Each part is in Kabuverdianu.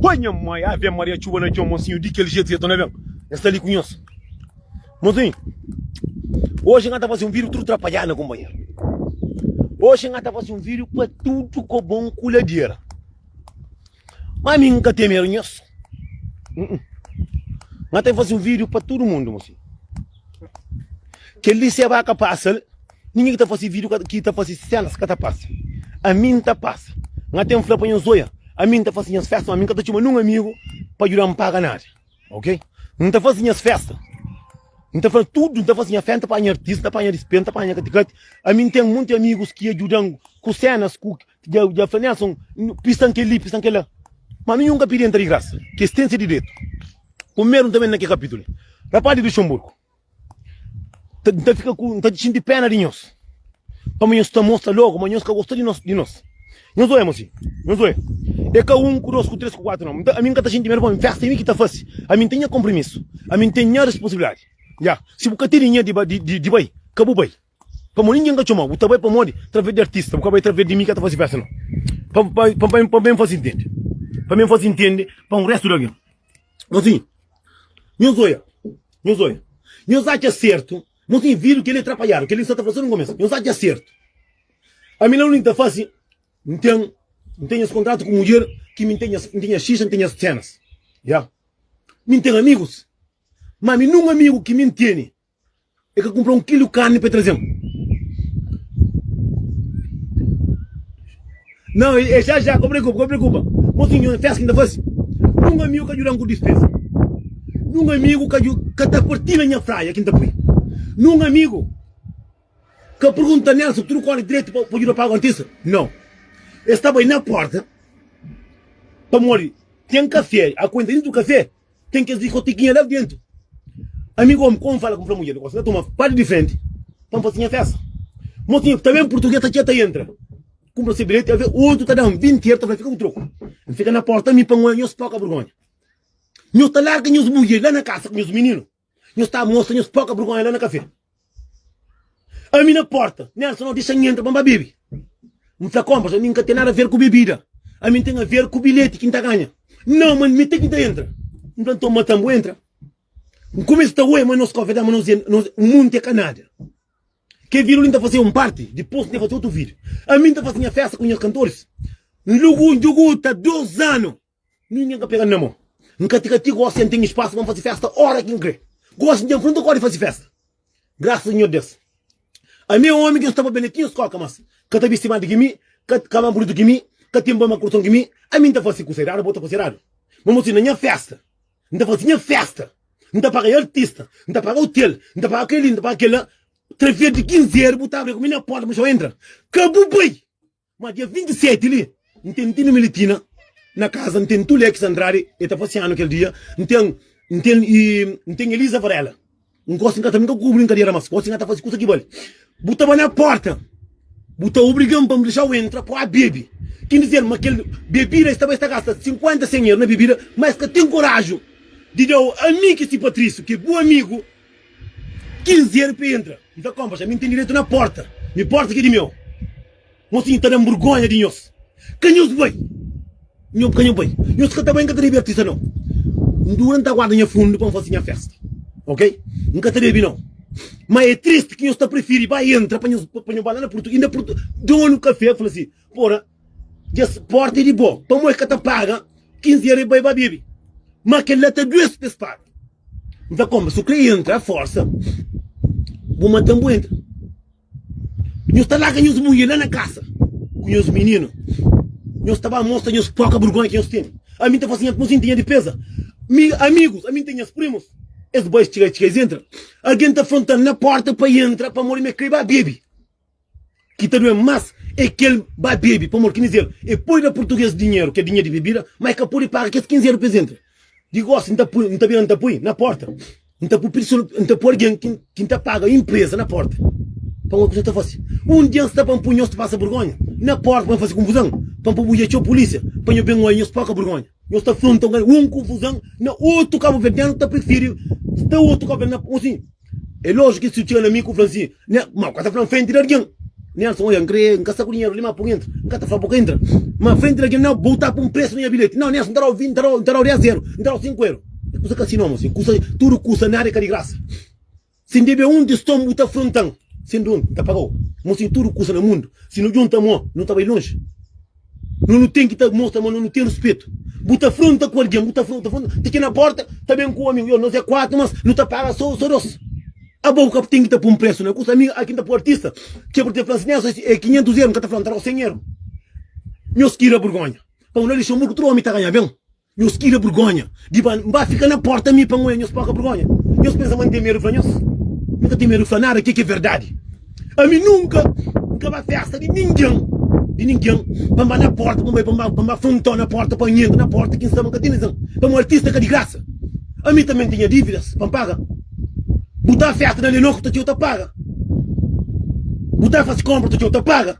Oi, nha mãe, Ave Maria, txuba na txon, Monsinho, di kel jeito, jeito, na ben, nha sta li ku nhos. Monsinho, hoje nha ta fazer um vídeo tudo trapalhado, né, companheiro? Hoje nha ta fazer um vídeo para tudo com bom coladeira. Mas mim nunca tem medo, nhos. Uh Nha ta fazer um vídeo para todo mundo, mocinho. Que ali se vaca passa, Ninhun ki ta fase vídiu ka ki ta fase sélas ka ta pasa. Ami N ta pasa. N até N fla pa nhas oia ami N ta fase nhas fésta ma ami N ka ta txoma ninhun amigu pa djuda-m paga nada. Ok. N ta fase nhas fésta N ta fla tudu N ta fase nha fé N ta panha artista N ta panha dispé N ta panha katikati ami N ten monti amigus ki dja djuda-m ku sénas ku dja dja fla Nelson pista-m kel-li pista-m kel-la ma ami nhun ka pidi N entra di grasa. Kes ten se direitu. Ku medu N ta ben na kel kapítulo li. Rapaz di Luxenburgu. ta nta fika ku nta xinti pena di nhos pamodi nhos ta mostra logu ma nhos ka gosta di nos di nos nhos oia mossi nhos oia e ka un ku dos ku tres ku kuatru no nta ami nka ta xinti medu pamodi festa e mi ki ta fasi ami nten nha konprimisu ami nten nha responsibilidadi nha si bu ka tene nha di di bai ka bu bai Pamodi ningen ka txoma-u? Bu ta bai pamodi? Traves di artista, bu ka bai traves di mi ka ta fazi festa no. Pa ben fazi ntende, pa ben fazi ntende pa un restu di algen. Mozinho, nhos oia, nhos oia, nhos atxa sertu, mozinho vidu keli atrapalhadu, keli sa ta fla sa di un komesu, nhos atxa sertu ami la undi ta fasi, ntem, ntem nhas kontratu ku mudjer ki mi ntem nhas, ntem nhas xixa, ntem nhas txenas, ya, mi ntem amigus, ma ami nun amigu ki mi nteni El ka kunpra un kilu karni pa el traze-m. Nau, e e xaxá, ka bu preokupa, ka bu preokupa. Mô sinhor, festa ki N ta fase, nungu amigu ka djuda-m ku dispesa. Nungu amigu ka dju, ka ta parti na nha fraia ki N ta pui. Nungu amigu ka pergunta nel si tudu kóre dretu pa pa djuda pagu antisa. Nau. Es ta bai na pórta pamodi ten kafé, akointa inda di kafé Ten kes di kotikinha la dentu. Ami gomi kon fala ku fla mudjer gosi na toma padi di frenti pa N fasi nha festa. Motinha ku ta ben purtugês ta txia ta entra kunpra se bilheti avê utru ta dan vinti er ta fla fika ku troku. N fika na porta mi pa N oia nhos poka burgonha. Nhos ta larga nhos mudjer la na kasa ku nhos mininu. Nhos ta mostra nhos poka burgonha la na kafé. Ami na porta, Nelson oh dexa-m entra pa N ba bebe. N fla Compos, ami N ka ten nada ver ku bebida, ami N ten aver ku bilheti ki N ta ganha. Nau ma N mete ki N ta entra. N fla nton matan bu entra. N kumesa ta oia ma nos kofe da ma nos un monti e ka nada. Kel video li N ta fase un parti, dipos N ta fase otu video. Ami N ta fase nha festa ku nhos kantoris. N lugu, N jugu ta dos anu. Ninguén ka pega-m na mô N ka tika ti gósi N ten espasu pa N faze fésta óra ki N krê Gósi dja-m fla N ta kóre faze fésta Grasas a Nho Deus Amê ómi ki N staba ben é tinha skóka Mas ka ta bisti má di ki mi Ka ka ba brutu ki mi Ka ten ba má kurson ki mi Ami N ta fase kusa eradu bo ta kusa eradu Má mos ti na nha fésta N ta faze nha fésta N ta paga e artista N ta paga otel N ta paga kel-li N ta paga kel-la Trafia di kinzéru bu ta abri ku mi na pórta ma dja bu entra Ka bu bai. Má dia 27 li, N ten Tino Militina na kaza, N ten Tulex Andrade, el ta fase anu kel dia, N ten, N ten i N ten Elisa Varela. N gosi N ka ta, N ka kubri N kadera más, gosi N ka ta fase kusa ki bali. Bu ta ba na pórta, bu ta obriga-m pa N dexa-u entra pa N bebe. Ki dize-l ma kel bebida es ta ba es ta gasta sinkuénta, sen eru na bebida, má es ka ten koraji di da-u ami ki si Patrísiu, ki é bu amigu. 15 eur pa entra mi ta konpra xa mi n ten direitu na porta mi porta ki di meu mosinhu ta dam burgonha di nhos ka nhos bai nho ka nho bai nhos ka ta bai n ka ta debi artista nau n dura n ta guarda nha fundu pa n fasi nha festa ok n ka ta debi nau ma e tristi ki nhos ta prifiri bai entra pa nhos pa nho bai la na purtu inda purtu donu kafé fla si pora. Dja suporta di bo, pamô e ka ta paga 15 era e bai ba bebe. Ma kel la ta dues pa es padu. N ta konba, si bu kre entra a forsa, bu mata-m bu entra. Nhos ta laga nhos munher la na kasa ku nhos mininu, nhos ta ba mostra nhos poka burgonha ki nhos tene. Ami N ta fasi nha kuzinha ti nha dipeza, mi amigus, ami ti nhas primus, es bai, es txiga, es txiga, es entra. Algen ta fronta-m na porta pa entra, pamodi mi e kre ba bebe. Ki ta due mas e kel ba bebe pamor ki Nizel e poi da purtuges dinheru ke dinhe di bebida ma e ka pode paga kes kinzi eru pa es entra di gosi nta pui nta bira nta pui na porta nta pu pirson nta pu algen ki nta paga inpresa na porta pa ngu kusa ta fasi un dia nsta pa npu nhos pasa burgonha na porta pa nfasi kunfuzan pa npu bujia txeu polisia pa nho ben oi nhos poka burgonha. Nhos ta fla nton ka un konfuzan na otu kabuverdianu ki ta prifiri sta otu kabuverdianu na osi. É lójiku ki si dju txiga na mi ku fla si, Nel, má bu ka ta fla nfrenti di algen. Nelson, Oia, N krê N ka sta ku dinheru li, má pur intra N ka ta fla bu ka intra. Má nfrenti di algen, Nau, bu ta pun presu na nha bilheti. Nau, Nelson, N ta dau vinti, N ta dau, N ta dau dés eru, N ta dau sinku eru. Kusa ka si, Nau, Mosé, kusa, tudu kusa, nada é ka di grasa. Si N debe un diston, bu ta fronta-m. Si N dun, N ta paga-u. Mo sin tudu kusa na mundu, si nu djunta mo, nu ta bai lonji. No nu ten ki ta mostra ma no nu ten ruspetu. Bu ta fronta ku algen, bu ta fronta, fronta, ti ki na porta ta ben ku ami, yo, nos é kuatu, mas nu ta paga so, so dos. Abo bu ka ten ki ta pun presu na kusa, ami, aki N ta pun artista, ke bu ta fla-m si nha so é kinhentus eru, N ka ta fla-u, N ta da-u sen eru. Nhos kira burgonha, pa bu na dexan burku tudu omi ta ganha ben. Nhos kida bergonha di ba N ba fika na porta mi pa N oia nhos poka bergonha Nhos pensa ma N ten medu di fla nhos? N ka ten medu di fla nada ke ki é verdadi Ami nunka N ka ba festa di ningen di ningen pa N ba na porta pa N bai pa N ba pa N ba fla un to na porta pa N entra na porta ki N saba N ka ten ningen pamo artista ka di grasa Ami tanbe N tinha dividas pa N paga Bu ta festa na le noku ta txeu ta paga Bu ta fase konpra ta txeu ta paga.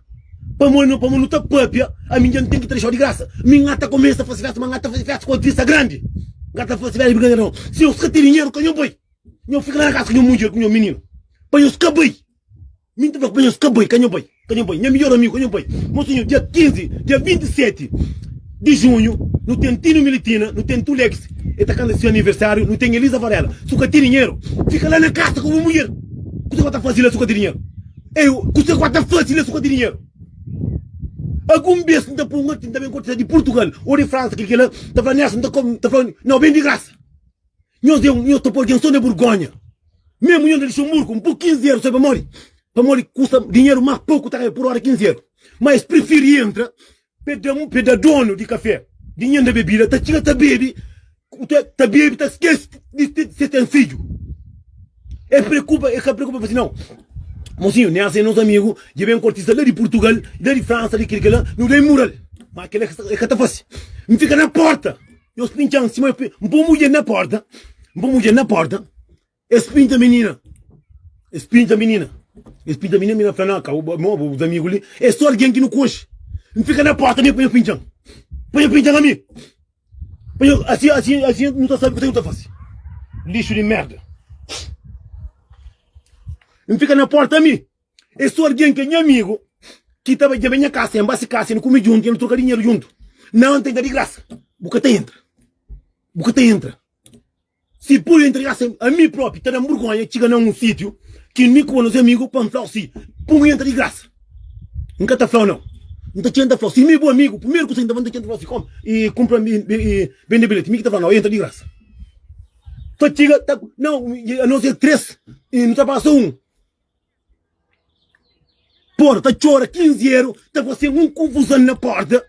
Pamodi no pamodi no ta papia ami dja n ten ki ta dexau di grasa mi n ata kumesa fasi festa ma n ata fasi festa ku atrisa grandi n ata fasi festa di brinkader no si nhos ka ten dinheru ka nho bai nho fika la na kasa ku nho mudjer ku nho mininu pa nhos ka bai mi n ta fla pa nhos ka bai ka nho bai ka nho bai nha midjor amigu ka nho bai ma sonho dia 15 dia 27 di junhu no ten tino militina no ten tulex e ta kanta si aniversario no ten elisa varela su ka ten dinheru fika la na kasa ku bu mudjer kusa ku bu ta fasi la su ka ten dinheru. Ei kusé ku ka ta fasil es nkontra dinheru. Algun bes N ta poi un otu, N ta ben kontra di Purtugal o di Fransa, kil kila ta fla nes, N ta kobra, N ta fla nhos ben di grasa. Nhos é, nhos ta poi algen so na burgonha. Mesmu nhos na Luxemburgo, N poi 15 eru, sabe pamodi? Pamodi kusta dinheru mas poku ta kai pur ora 15 eru. Mas es prifiri entra Pe da donu di kafé dinheru na bebida, ta txiga ta bebe, ta bebe, ta skese di se ten fidju. E preokupa, e ka preokupa, e fla si, Nau, mosinhu, ne asa é nos amigu, dja ben ku artista la di Purtugal, la di Fransa, la di kila, kila, nu da-i mural. Ma kel-la e ka ta fase. N fika na porta, nhos pintxa-m sima, N pô mudjer na porta, N pô mudjer na porta. Es pinta minina Es pinta minina Es pinta minina Minina fla nan ka bu Mo bu zamigu li É so algen ki nu konxe N fika na porta mi pa nha pintxan Pa nha pintxan ami Pa nha Asi asi asi nu ta sabi kuzê ki nu ta fase Lixu di merda N fika na porta mi É so algen ki é nha amigu Ki ta dja ben nha kasa Nha ba si kasa nu kume djuntu nha nu troka dinheru djuntu Nan N ta entra di grasa Bu ka ta entra Bu ka ta entra. Si pudi entrega sem ami propi ta dam burgonha tchiga na um sitiu ki ni ku nos amigu pa nflau si purmenta di grasa nka ta flau nau nta tchiga nta flau si mi bu amigu primeru kusa ki nta fla nta tchiga nta flau si kom i kumpra bende bileti mi ki ta fla nau entra di grasa ta tchiga nau anos e tres i nu ta paga so um. Por ta txora 15 euro ta fase un konfuzon na porta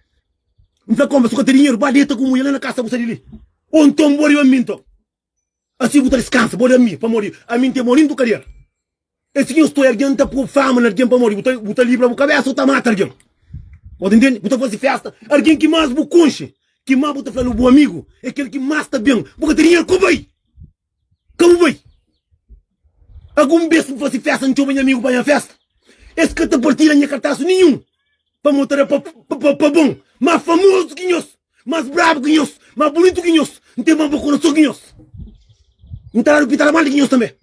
N ta konba si bu ka ten dinheru ba deta ku mui la na kasa bu sai di li o nton bu riba mi nton asi bu ta diskansa bo da mi pamodi ami N ten bonitu kadiera e si nhos toi algen ta po fama na algen pamodi bu ta bu ta libra bu kabesa o ta mata algen bo ta ntende bu ta fase festa algen ki mas bu konxe ki mas bu ta fla no bu amigu e kel ki mas ta ben bu ka ten dinheru ku bai. Ka bu bai. Algun bes bu fase festa, N txoma nha amigu pa nha festa, es ka ta partida nha kartas ninhun, pamô ta da pa bon, más famozu ki nhos, más brabu ki nhos, más bunitu ki nhos, N ten más bon korason ki nhos. N ta dadu pitala más di ki nhos tanbê.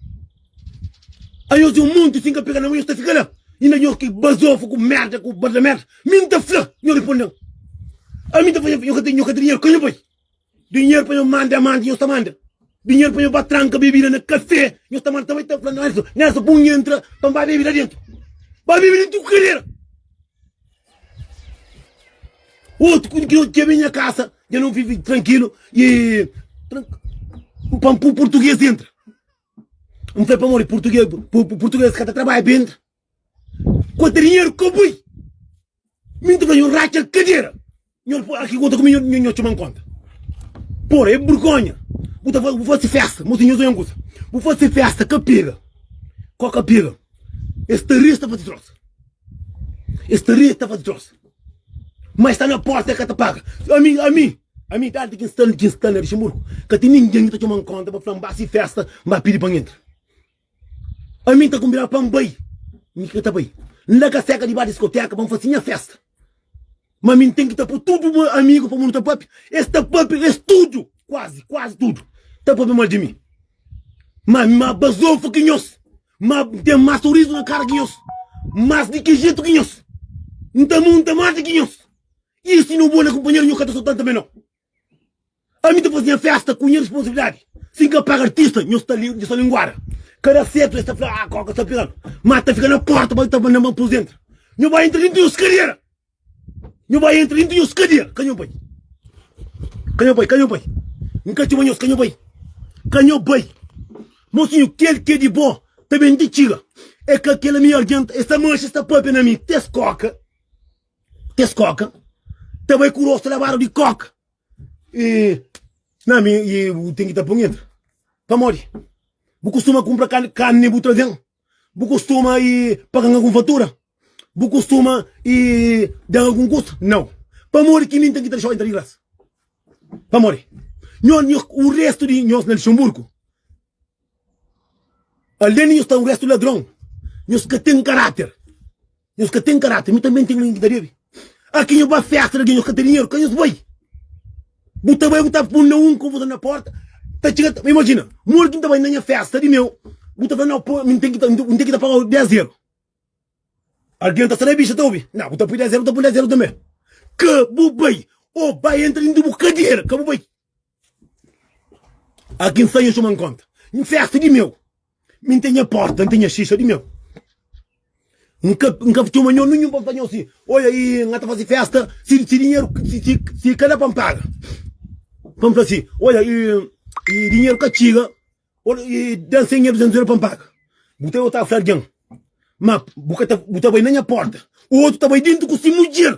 Anhos di un monti si N ka pega na mô, nhos ta fika la, inda nhos ki bazofa, ku merda, ku bardamerda. Mi N ta fla, nhos riponde-m. Ami N ta fla, Nho ka ten dinheru, ka nho bai. Dinheiro pa nho manda manda nho sta manda Dinheiro pa nho ba tranka bebida na café nho sta manda Também ta fla Nelson Nelson pun nho entra pa ba bebe la dentro Ba bebe dentro ku cadeira Outro que não tinha minha casa, eu não vivi tranquilo e para português entra. Não foi para morrer, português, português que trabalha bem entra. Kota dinheru ka boi. Mi ta fla nho ratxa kadera. Nho poi aki kota kumi nho txoman konta. Por e burgonha. Bu ta fase, bu fase festa. Mos nho sonha kusa. Bu fase festa ka pega. Ko ka pega. Es ta ri, es ta fase trosa. Es ta ri, es ta fase trosa. Mai sta na porta e ka ta paga. Ami, ami, ami idadi ki nsta, ki nsta na Luxemburgo ka ten ningen ki ta txoman konta pa fla-m ba si festa, ba pidi pa N entra. Ami n ta konbida-l pa N bai, mi ki ka ta bai. N da kaseka dibas di diskoteka pa N fase nha festa. Ma mi N ten ki ta poi tudu nha amigu pamodi nu ta papia. Es ta papia, es tudu, kuazi, kuazi tudu ta papia mal di mi. Ma mi más bazofa ki nhos, má N ten más surizu na kara ki nhos, más di ki jetu ki nhos. N ta amau, N ta amada ki nhos. I si no bo na kunpanheru, nho ka ta sota-m tanbê nau. Ami ta faze nha festa ku nha responsabilidadi sin ka paga artista nhos ta li sa linguada ka da sertu es ta fla ah koka sa piranu ma ta fika na porta ba ta manda ma aposentra nho bai entra dintu nhos kadiera nho bai entra dintu nhos kadiera ka nho bai ka nho bai ka nho bai nka txoma nhos ka nho bai ka nho bai mosinho kel ke di bo ta ben di txiga e ka kel ami ardienta e sa manxa e sa papia na mi tes koka. kes koka ta bai ku rostu labadu di koka e na mi e bu ten ki ta punheta pamodi bu kustuma kunpra karni karni bu trazen bu kustuma e pagan algun fatura bu kustuma e dan algun kustu nau pamodi ki mi n ten ki ta dexau entra di grasa pamodi nho nho u restu di nhos na luxemburgu alden di nhos ta un restu di ladron nhos ka ten karater Nhos ka ten karater, mi tanbê n ten algen ki ta debe. A ki nho ba festa di algen, nhos ka ten dinheru, ka nhos bai? Bu ta bai, bu ta pun na un konfusão na porta, ta txiga ta. Imajina, modi ki n ta bai na nha festa di meu, bu ta fla nau, pô, mi n ten ki ta, mi n ten ki ta pagau dés eru? Algen ta sta na bixa ta obi? Nau, bu ta pui dés eru, bu ta pun dés eru tanbê. Ka bu bai, ô bai entra dintru di bu kadiera, ka bu bai. Aki N sta nha txoman konta N festa di meu Mi N ten nha porta N ten nha xixa di meu N ka N ka txoma nho ninhun pa fla nho si Oi aii nha ta fase festa si si dinheru si si ka da pa N paga Pa N fla si Oi aii i dinheru ka txiga Ol i da-m sen nha duzentus mel pa N paga Bu ta ota fla algen ma bu ka ta bu ta bai na nha porta Otu ta bai dentu ku si mudjer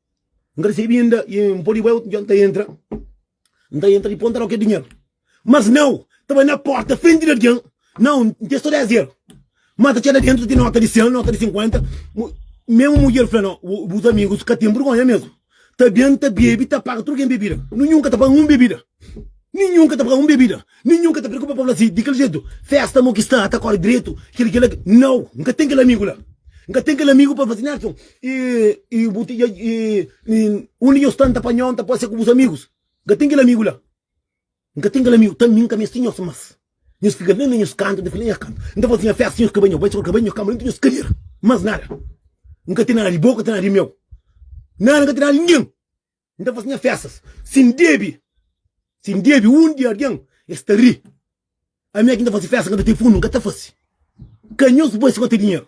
N ka resebi inda i N pode bai otu dja N ta entra N ta entra di ponta na oke dinheru Mas nau ta bai na porta frenti di algen Nau N ten so dés eru Mas ta txeda dentu ta ten nota di sen nota di sinkuenta Memu mudjer fla nau bus amigus ka ten burgonha mezu Ta ben ta bebi ta paga tudu ken bebida Nu nhunka ta paga un bebida. Ninhun ka ta paga un bebida, ninhun ka ta preokupa pa fla si di kel jetu festa mo ki sta, ta kóre dretu, kel ki la ki. Nau! N ka ten kel amigu la. N ka ten kel amigu pa fla si, Nerson, i, i bu ta dja, i, i undi nhos sta N ta panha-u, N ta pô-u ser ku bus amigus. N ka ten kel amigu la. N ka ten kel amigu. Tanbê N ka meste nhos más. Nhos fika nen na nhos kantu, nhos fika nen na nhos kantu. N ta fla si, nha festa si nhos ka bai, nhos bai, si nhos ka bai, nhos kanba dentru di nhos kadera. Más nada. N ka ten nada di bo, ka ten nada di meu. Nada, N ka ten nada di ningen. N ta fase nha festas sin debi, sin debi un di algen es ta ri. Ami aki N ta fase festa ka ta ten fundu, N ka ta fase ka nhos bu bai si kota dinheru.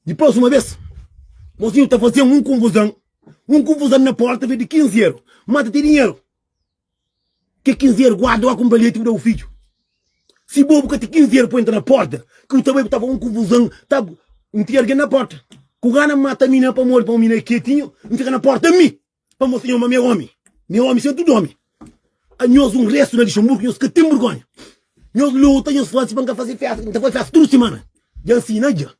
Dipos uma bes mozinhu ta fazen un kunfuzan, un kunfuzan na porta ve di 15 euro mata te dinheru. Ke ki nzer guarda oca un balete bu da bu fidju? Si bo bu ka ten ki nzer po entra na porta ki bu ta bai bu ta fai un kufuzan ta nti algen na porta ku gana mata mi na pamodi pa un mina ketinho n fika na porta mi pa mostra nho ma mi é omi mi é omi sima tudu omi anhos un restu na lixamburgu nhos ka ten burgonha nhos luta nhos fasi pa n ka fasi festa n ta fai festa tudu simana dja nsina dja.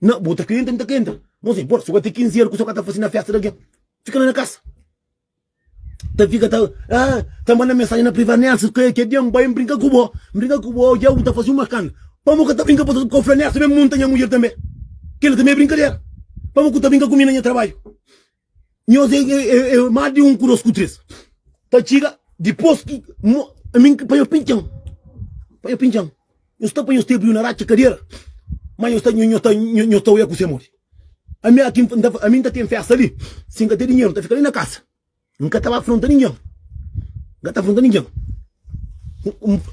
Nan, bu ta ka entra, N ta ka entra. Mon Zé, bora, suba te kinzi anu ku so ka ta fasi na festa di algin. Fika la na kasa. Ta fika ta, ah, ta manda mensaji na priva, Nelson, ke ke ben bai N brinka ku bo. N brinka ku bo, odja bu ta fasi un makan. Pamo ka ta brinka pa bu fla Nelson ben munta nha mudjer tambe. Kila tanbe é brinkadera. Pamo ku ta brinka ku mi na nha trabadju. Nhos é más di un ku dôs ku três Ta txiga dipôs ki ami ki panha pintxan Panha pintxan Nhos ta panha stebriu na ratxa kadera Má nhos ta nhos ta nhos ta oiá ku semodi Ami aki N ta ami N ta ten fésta li Si N ka ten dinheru N ta fika li na kasa N ka ta ba afronta ningen N ka ta afronta ningen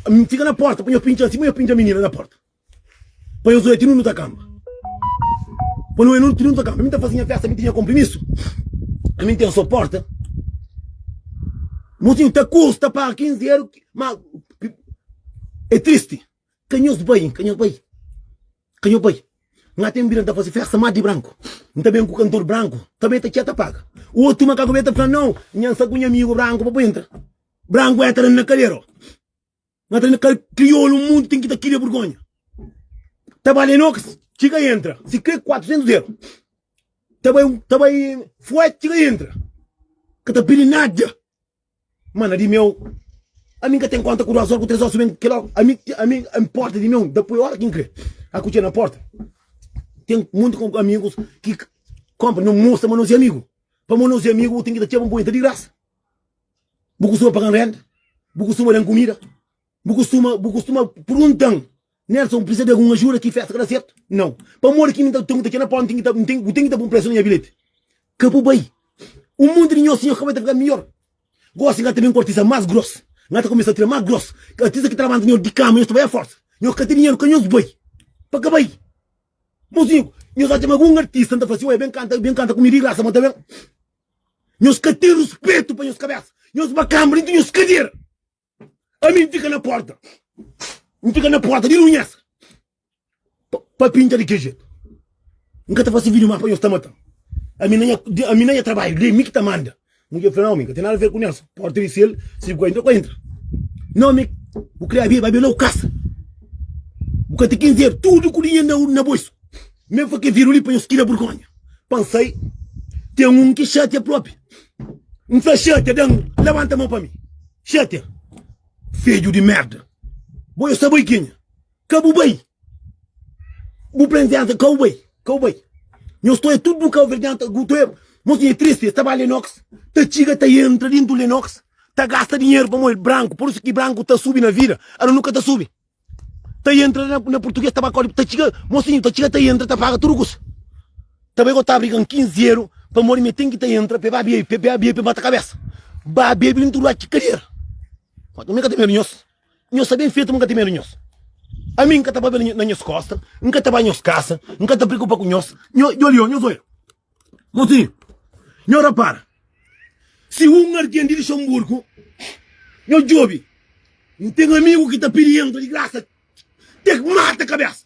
N fika na pórta panha pintxan si panha pintxan minina na pórta. Pa nhos oja ti nu nu ta kanba Pa nu oja nu ti nu nu ta kanba Mi ta faze nha festa mi ti nha konprimisu Ami n'ten soporta Mosinhu ta kusta paga ki nzeru ma E tristi Ka nhos bai ka nhos bai Ka nhos bai N'ga ten bira n'ta faze festa ma di branku N'ta ben ku kantor branku Ka be ta txia ta paga Otu makaku be ta fla nau Nha n'sa ku nha amigu branku pa bu intra Branku eta na-n na kaleru Nós tá kal crioulo mundo tem que tá queria burgonha tá bala inox txiga entra si crê 400 euro tá bai tá bai fuet txiga entra ka ta pidi nada mana di meu ami ka tem conta ku 2 hora ku 3 hora suben kilo ami ami ami porta di meu da poi hora kin crê a kutxê na porta tem mundo com amigos ki compra nu mostra ma nos é amigo pamo nos é amigo tem ki ta txeba un punheta di graça. Bu kustuma paga-m renta? Bu kustuma da-m kumida? Bu kustuma bu kustuma pergunta-m, Nelson, bu precisa di algun ajuda ki festa ka ta sertu? Nau. Pamodi ki mi ta mi ta txina pau, N ten ki ta N ten bu ten ki ta pô-m preson na nha bilheti? Ka bu bai. Un monti di nhos nhos ka bai ta fika midjór. Gósi N ka ta ben ku artista más grós. N ka ta kumesa atira más grós. Artista ki ta labanta nhos di kama, nhos ta bai a forsa. Nhos ka ten dinheru, ka nhos bai. Pa ka bai. Mozinhu, nhos atxa ma algun artista N ta fla si, Oi, ben kanta ben kanta ku mi di grasa ma N ta ben. Nhos ka ten ruspetu pa nhos kabésa. Nhos ba Kánbra y N ta nhos kadera. Ami N fika na pórta. N fika na pórta di lunhesa pa pinta di kel jetu. N ka ta fase vídiu más pa nhos ta mata-m. Ami na nha, ami na nha trabadju li, é mi ki ta manda. Mudjer fla, Nau, mi ka ten nada fer ku Nélson. Pórta di sélu, si bu ka intra, bu ka intra. Nau, mi bu krê abri, ba abri la bu kasa. Bu ka ta kenzedu tudu ku dinheru na bolsu. Mê fa ke viru li pa nhos kila burgonha pa N sai Ten un ki xatia propi N fla xatia da-m labanta mô pa mi Xatia Fedju di merda Bo nhos ta bai kenha? Ka bu bai Bu prenzénsa ka bu bai Ka bu bai Nhos ta oia tudu kauverdianu ta bu ta oia Mosi nha tristi es ta ba Lenox Ta txiga ta entra dintu Lenox Ta gasta dinheru pamô el branku Por isu ki branku ta subi na vida Anu nu ka ta subi. ta entra na, na português ta bacode ta txiga mocinho ta txiga ta entra ta paga tudo kus ta bem ta briga 15 euro pa mori me tem que ta entra pe ba bebe pe ba bebe pe bata cabeça ba bebe intro da txikadeira mas também ka tem medo nhos nhos ta bem feito mas ka tem medo nhos a mim ka ta ba bem na nhos costa nunca ta ba nhos casa nunca ta preocupa com nhos nho olha nhos olha Motinhu, Nho rapara, si un argen di Luxemburgo, nho djobi, N ten amigu ki ta pidi entra di grasa te ki mata kabesa,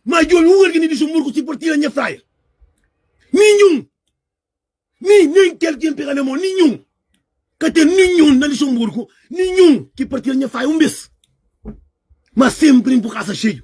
ma djobi un argen di Luxemburgo si partida nha flyer. Ninhun! Mi, nen kel ki N pega na mo, ninhun! Ka ten ninhun na Luxemburgo, ninhun ki partida nha flyer un bes. Ma senpri N pui kasa xeiu.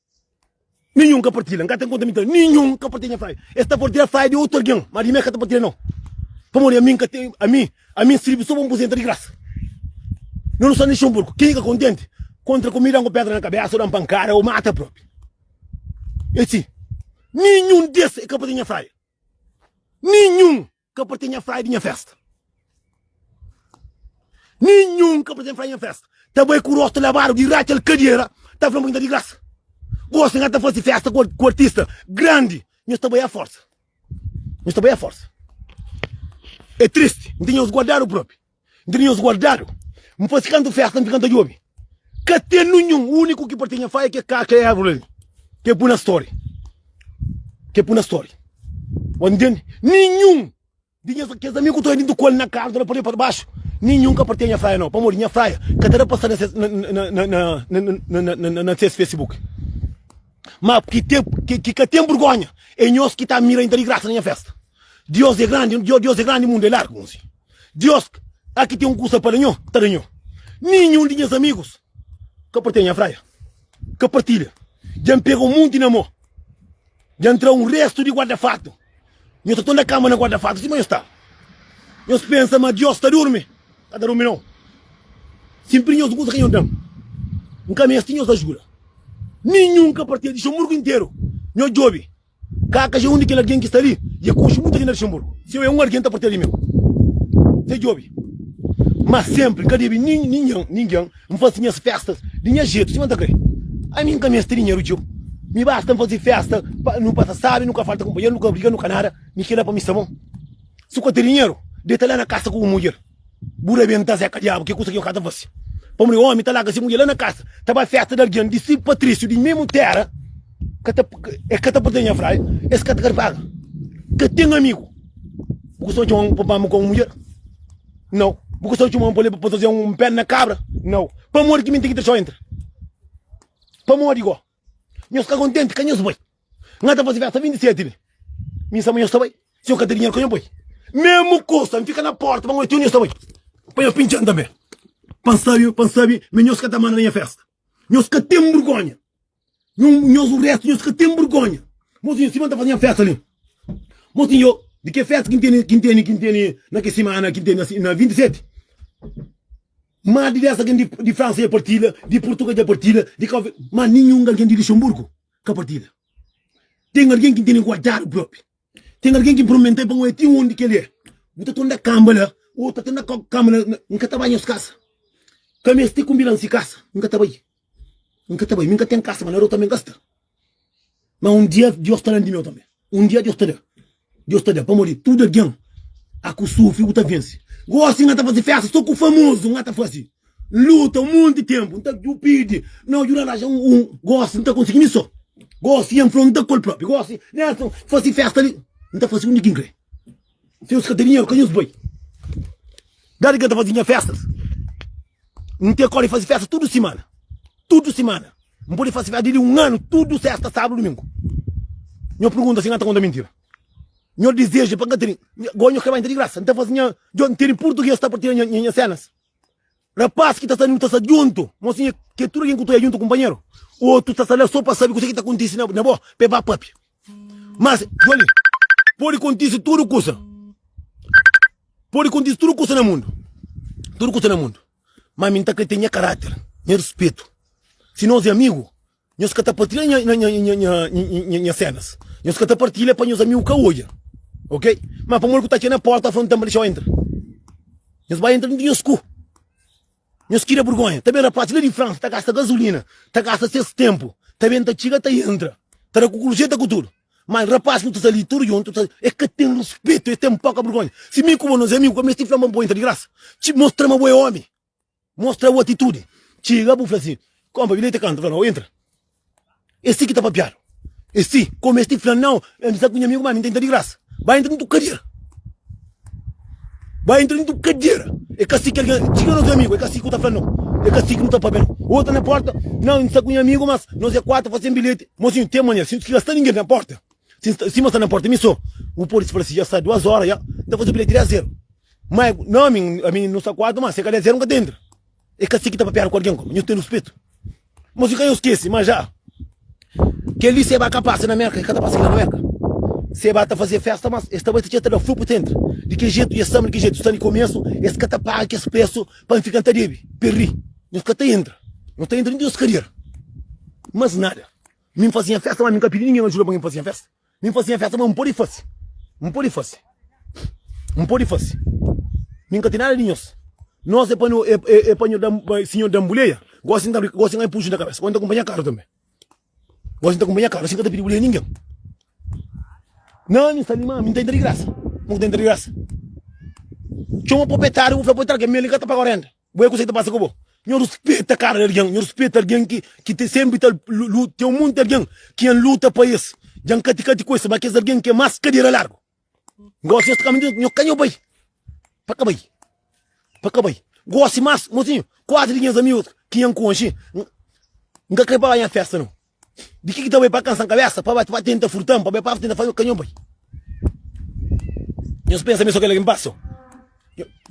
Ninhun ka partilha, nka ten konta mi ta da, ninhun ka partilha nha fly. Es ta partilha fly di otu algen, ma di mi es ka ta partilha nau. Pamodi ami nka ten, ami, ami n sirbi so pa un puzenta di grasa. No no sta na xon purku, kenha ka kontenti kontra ku mi dan ku pedra na kabesa, o dan pankada, o mata propi. E si, ninhun di es e ka partilha nha fly. Ninhun! Ka pa ten nha fly di nha festa Ninhun ka pa ten fly di nha festa Ta bai ku rostu labadu di racha el kadiera Ta fla-m pa jinta di grasa Gosi nha ta fasi festa ku artista grandi Nhos ta bai a forsa Nhos ta bai a forsa É tristi N ten nhos guardadu propi N tinha nhos guardadu. N fase kantu festa, N fika N ta djobe. Ka ten ninhun. Úniku ki parteja nha fai é kel ka, kel ervul ali. Ke pui na stori. Ke pui na stori. Bo ta ntende? Ninhun di nhas, kes amigu ku ta bai dintu ku el na karu, ta da pa riba, pa baxu, ninhun ka parteja nha faia nau. Pamodi nha faia ka ta da pa sta na ses, na, na, na, na, na ses facebook. Ma ki ten, ki ka ten burgonha é nhos ki ta mira i ta di grasa na nha festa. Diós é grandi, Diós é grandi, mundu é largu, kunsi. Diós a ki ten un kusa pa da nho, ta da nho. Ninhun di nhas amigus ka partia nha fraia, ka partilha. Dja N pega un monti na mô, dja N tra un restu di guarda-fatu. Nho ta tonda kama na guarda-fatu sima nho sta. Nhos pensa ma Diós ta durmi? Ka ta durmi nau. Sinpri nhos usa ke nho da-m. N ka meste nhos ajuda. Ninhun ka partia di Xamurgu interu. Nho djobe Kaka dja é un di kel algen ki sta li. Dja konxe mutu algen na Luxemburgu. Si eu é un algen ta partia di meu. Dja djobe. Má sénpri N ka debe nin ninhan, ningen, N faze nhas féstas di nha jetu, sima N ta krê. Ami N ka meste dinheru dju. Mi basta N faze fésta pa nu pasa sábi, nu ka falta kunpanheru, nu ka briga, nu ka nada. Mi kel-la pa mi sta bon. Si ku ka ten dinheru, deta la na kasa ku un mudjer. Bu rebenta Zeka diabu ke kusa ke yo ka ta fase pamodi omi ta larga se mudjer la na kasa ta bai festa di algin di si patrisiu di mesmu tera e ka ta pertence a fla es ka ta kre paga ka ten amigu bu ka sta txoman pa pama ku un mudjer nau bu ka sta txoman pa leba pa traze un perna di kabra nau pamodi ki mi n tene ki ta txo entra pamodi go. Nhos ka kontenti, ka nhos bai. N ata fase festa 27 li. Mi sama nhos ta bai. Si nhos ka ten dinheru, ka nhos bai. Mesmu kusa, N fika na porta, ma N bai ti un nhos ta bai, pa nhos pintxa-m tanbe, pa N sabe, pa N sabe ma nhos ka ta manda na nha festa. Nhos ka ten burgonha. Nhos un restu, nhos ka ten burgonha. Mosinhu, sima N ta fase nha festa li. Mosinhu, yo, di ke festa ki N tene, ki N tene, ki N tene na kes simana, ki N tene na 27, Má divês algen di Fransa dja partida, di Purtuga dja partida, di Cabo Verde, má ninhun algen di Luxemburgo ka partida. Ten algen ki N tene guardadu propi, ten algen ki N promentei pa N oja ti undi ki el é. Bu ta tunda kanba la, ô ta tunda kanba na, na. N ka ta bai nhos kasa. Ka meste kunbida-m si kasa, N ka ta bai. N ka ta bai. Mi N ka ten kasa, má na Roterdã N ka sta. Mas un dia Deus ta da-m di meu tanbe Un dia Deus ta da Deus ta da Pamodi tudu algen a ku sufri ku ta vense Gosi N ka ta fase festa so ku famozu N ka ta fase N luta un monti tenpu N ta pidi Nau djuda-m raja un un Gosi N ta konsigi mi so Gosi N fla-u N ta kol propi Gosi Nelson fase festa li N ta fase undi ki N kre. Ti nhos ka ten dinheru ka nhos bai da di ki N ta fazi nha festas N ten kóre fazi festa tudu simana tudu simana N pudi fazi festa didi un anu tudu sesta sabdu dumingu nho pergunta si N ta konta mintira nho dizeja pa N ka teni gosi nho krê bai N ta di grasa N ta fazi nha djon N teni purtuges ta partida nha senas. Rapaz ki ta sta nu ta sta djuntu mosinha ke tudu algen ku ta oia djuntu kunpanheru otu ta sta la so pa sabe kuse ki ta kontise na bo pa e ba papia mas djoli podi kontise tudu kusa podi kontise tudu kusa na mundu tudu kusa na mundu ma ami n ta kre ten nha karater nha rispetu si nos e amigu Nhos ka ta patria nha senas, nhos ka ta partilha pa nhos amigu ka odja. Ok? Má pamodi ku ta txê na pórta, fla-m, Tanbra, dexau entra. Nhos bai entra dintu nhos ku. Nhos kida burgonha. Ta ben rapazis la di Fransa, ta gasta gazulina, ta gasta ses tenpu, ta ben ta txiga, ta entra, ta da ku kruzeta ku tudu. Má el, rapazis nu ta sta li tudu djuntu, ta. El ka ten ruspetu, el ten poka burgonha. Si mi ku bo nos é amigu, ka meste fla-m pa N pô-u entra di grasa? Txi, mostra-m ma bo é ómi. Mostra bu atitudi. Txiga bu fla si, Konpa, bilheti é kantu? Fla, Nau, entra. É si ki ta papiadu. É si. Kómu es ti fla, Nau, N sta ku nha amigu, má mi N ta entra di grasa. Ba entra ntu kadera. Ba entra ntu kadera. É ka si ki algen. Txiga nos amigu, é ka si ki bu ta fla nau. É ka si ki nu ta pâpia nau. Otu na pórta, Nau, N sta ku nha amigu, má nos é kuatu, faze sen bilheti. Mosinhu, ten manera. Si nu txiga, sta ningen na pórta. Si, sima sta na pórta mi sô, bu pode fla si, Dja sta duas óra, nha N ta faze bilheti di a zeru. Ma é ku. Nau ami ami nu sta kuatu ma se kalé zero n ka ta entra é ka si ki ta papiadu ku algen kuma nhos ten ruspetu ma si ka nhos skese ma ja keli se ba ka pasa na merka e ka ta pasa ki la na merka se ba ta faze festa mas es ta bai ta txeu ta da flu pa ta entra di ki jetu es staba di ki jetu es sta di komesu es ka ta paga kes presu pa n fika n ta debe pa el ri nhos ka ta entra nhos ta entra dintu des kadera mas nada mi n fasinha festa ma mi n ka pidi ningen ajuda pa mi fasinha festa. Mi fasi nha festa ma N podi fasi N podi fasi N podi fasi Mi N ka ten nada di nhos Nos é pa no é é é pa nho dam pa si nho dam buleia Gosi N ta brinka gosi N ka puxu na kabesa Gosi N ta kunpa nha karu tanbe Gosi N ta kunpa nha karu Asin N ka ta pidi buleia ningen Na mi sta li ma mi N ta intra di grasa N ka ta intra di grasa Txoma proprietariu bu fla pa el tra kel mel li N ka ta paga renda. Bo é kusé ki ta pasa ku bo? Nho ruspeta kara di algen, nho ruspeta algen ki ta senpri ta luta. Ten monti algen ki N luta pa es, dja N ka ti ka ti ku es, má kes algen ki é más kadera largu, gósi es ta kaba. Nho ka nho bai pa ka bai, pa ka bai. Gósi más, mosinhu, kuatu di nhas amigu ki N konxe, N ka kai pa ba nha fésta nau. Di ki ki ta bai pa kansa-m kabésa? Pa bate-bate tenta furta-m, pa bai paf tenta faze-m kanhon bai. Nhos pensa mê so kel-la ki-m pasa so?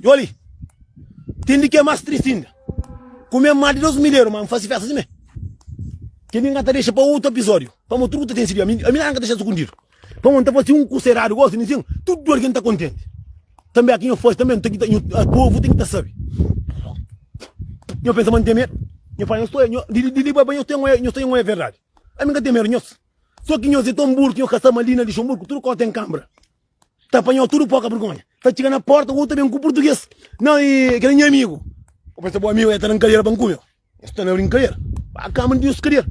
Nhô li, ten di k'é más tristi inda. Ku mê más di dos milheru má, N faze fésta simé. Kel-li N ka ta dexa pa otu apizódiu, pamodi tudu ku ta ten sidu ami, ami la N ka ta dexa sukundidu. Pamo nta fasi un kusa eradu gosi nin sin tudu algin ta kontenti tambi aki nho fasi tambi nta kita nho povu ten kita sabi nho pensa ma nten medu nho fala nho sta nho di li pa bai nho sta nho sta nho verdadi ami nka ten medu nho sta so ki nho si ton buru ki nho ka sa ma li na lixonburgu tudu kau ten kambra ta panhau tudu poka burgonha ta txiga na porta ou ta ben ku purtuges na e kila nha amigu o pensa bo amigu e ta na nkadera pa nkume. Nhos sta na brinkader? Ba kama Deus ka der.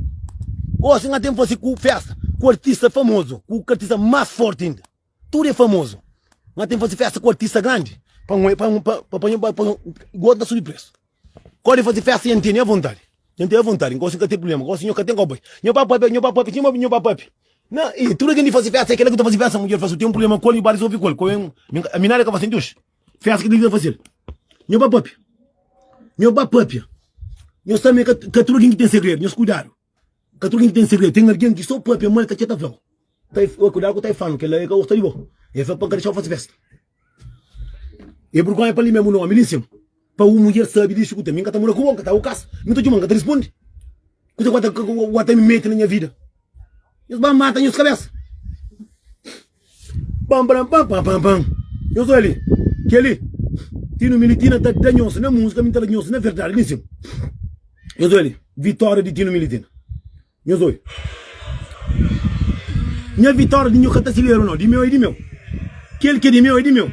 Gosi nha ten fase ku festa ku artista famozu, ku artista mas forti inda. Tudu e famozu. Nha ten fase festa ku artista grandi pa nha pa pa pa pa pa gosi ta subi presu. Kore fase festa nha tene avontadi. Nha ten avontadi, gosi ka ten prublema. Gosi nha ka ten kobai. Nha ba pape, nha ba pape, txi nha ba pape. Na i tudu ken di fase festa e kila ku ta fase festa mudjer fase. Ten prublema ku el mi ba risolvi ku el. Ku el aminada ka fase ntuxi. Fé asa ki ten ki ta faze-l nho ba pâpia, nho ba pâpia. Nho sta me ka ka tudu algen ki ten segredu, nhos kudadu, ka tudu algen ki ten segredu. Ten algen ki so pâpia ma el ka txeu ta fla-u, tai ô kudadu ku tai fla-u, kel la e ka gosta di bo, e fla pa el ka dexau fase fésta. E burgonha pa li mé bu nomi li nsin, pa u mudjer sabi di skuta, mi n ka ta mora ku bo, n ka ta bu kasa, mi ta txoma, n ka ta risponde. Kusa ku ata mi mete na nha vida? Nhos ba mata nhos kabésa. Pam-pam-pam-pam-pam-pam. Nhos sta li. Keli Tino Militina ta da nhos na múzika, mi ta da nhos na verdadi li nsima. Nhos obi li, Vitória di Tino Militina. Nhos obi. Nha vitória di nho ka ta sileru, nau. Di meu é di meu. Kel ki é di meu é di meu.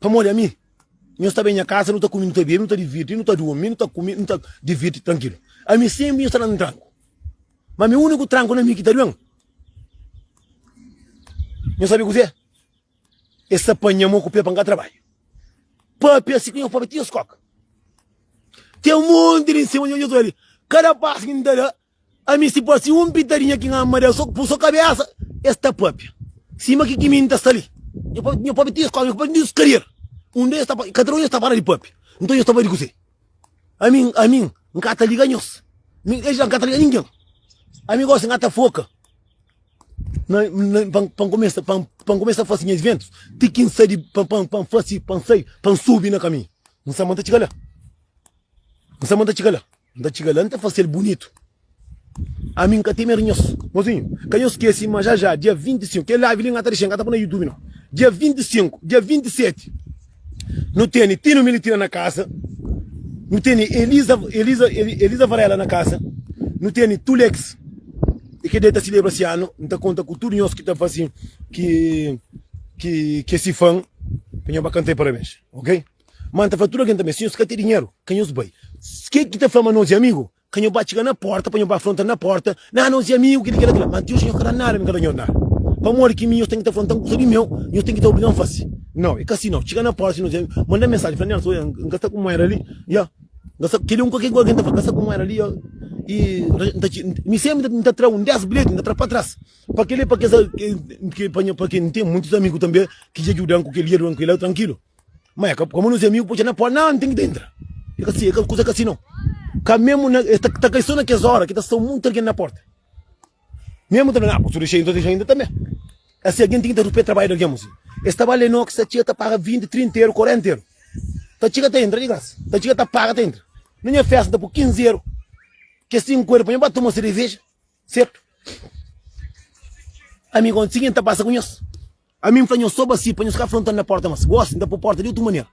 Pamodi ami, nhos ta ben nha kasa, nu ta kume, nu ta bebe, nu ta divirti, nu ta durmi, nu ta kume, nu ta divirti trankilu. Ami sénpri nhos ta da-m tranku. Má ami úniku tranku na mi ki ta ben. Nhos sabe kuzê? Es ta panha mo ku pé pa N ka trabadja. Pâpia asi ku nhos pâpia ti nhos kóka. Ten monti di nsima di nhos djobe li. Kada pasu ki N ta da, Ami si fósi un pitadinha ki N ama Deus so so kabésa es ta pâpia sima ki ki mi N ta sta li nha pâpia nha pâpia ti es kónpra nha pâpia ti es karier un dia es ta pa kada un es ta para di pâpia nton nhos ta bai di kuzê ami N ami N ka ta liga nhos mi es N ka ta liga ningen ami gósi N ka ta foka na na pa pa N kumesa pa N pa N kumesa fase nhas ventus ti ki N sai di pa pa pa N fase pa N sai pa N subi na kaminhu N sama ta txiga la N sama ta txiga la. N ta txiga la, N ta fase-l bunitu. Ami N ka teme ranhos. Mozinhu, ka nhos skese ma já já, dia 25, kel live li N ka ta dexa, N ka ta poi na YouTube nau. Dia 25, dia 27, nu tene Tino Militina na kasa, nu tene Eliza, Eliza, Eliza Varela na kasa, nu tene Tulex, i ke dia ta selebra si anu. N ta konta ku tudu nhos ki ta fase, ki, ki, ki é si fan, pa nhos ba kanta-l parabéns. Ok. Má N ta fla tudu algen tanbê, si nhos ka ten dinheru, ka nhos bai. Kel ki ta fla ma nos é amigu, ka nhos ba txiga-l na pórta, pa nhos ba fla-l na pórta, Nau, nos é amigu, kel-li, kel-la, kel-la. Má ti oji nhos ka da-l nada, mi ka da nhos nada. Pamodi ki mi, nhos ten ki ta fla-m tanbê kuza di meu, nhos ten ki ta obriga-m faze? Nau, é ka si nau. Txiga na pórta, si nos é amigu, manda-m mensajen, fla nelis, Odja, N ka sta ku muéda li, ya, N ka sta. Kel-li é un kualker algen ta fla, N ka sta ku muéda li, ya, i N ta txiga. Mi sénpri N ta tra un dés bilheti, N ta tra pa tras. Pa kel-li, pa kes, pa ke, pa ke N ten muntus amigu tanbê ki dja djuda-m ku kel-li, dja dua-m kel-la, trankilu. Mé ka komu nos amigu putxa na pol nan ten ki ta entra e ka si kusa ka si no ka memu na e ta kai so na kes ora ki ta sta mutu algen na porta memu ta fla su dexei dexei entra tanbe asi algen ten ki ta rupia trabadju di algen mossi e sta ba le no ki sta txiga ta paga vinti trinta eru korenta eru ta txiga ta entra di grasa ta txiga ta paga ta entra na nha festa ta pu kinzi eru kes sinku eru pa nha ba toma serevexa. Sertu? Ami konta si ngen ta pasa ku nhos, ami n'fla nhos soba si pa nhos ka frontanu na porta mas gosi n'ta pui porta di otu manera,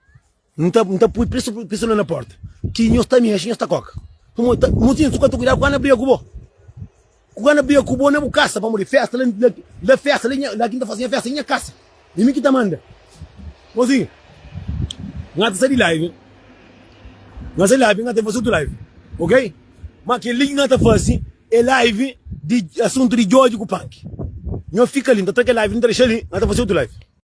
n'ta pui pisola na porta ki nhos ta mexe nhos ta koka. Pamodi ta modi si n'suka ta kuidadu ku ka na briga ku bo, ku ka na briga ku bo na bu kasa pamodi festa la festa la ki n'ta fasi nha festa nha kasa. Imi ki ta manda. Mozinho, nga ta sai di live, nga sai live, nga ta fasi otu live, ok? Ma keli ki nga ta fasi e live di asuntu di Jorge ku Panky. Nho fika li, nta tra ke live, nta dexa li, nga ta fasi otu live.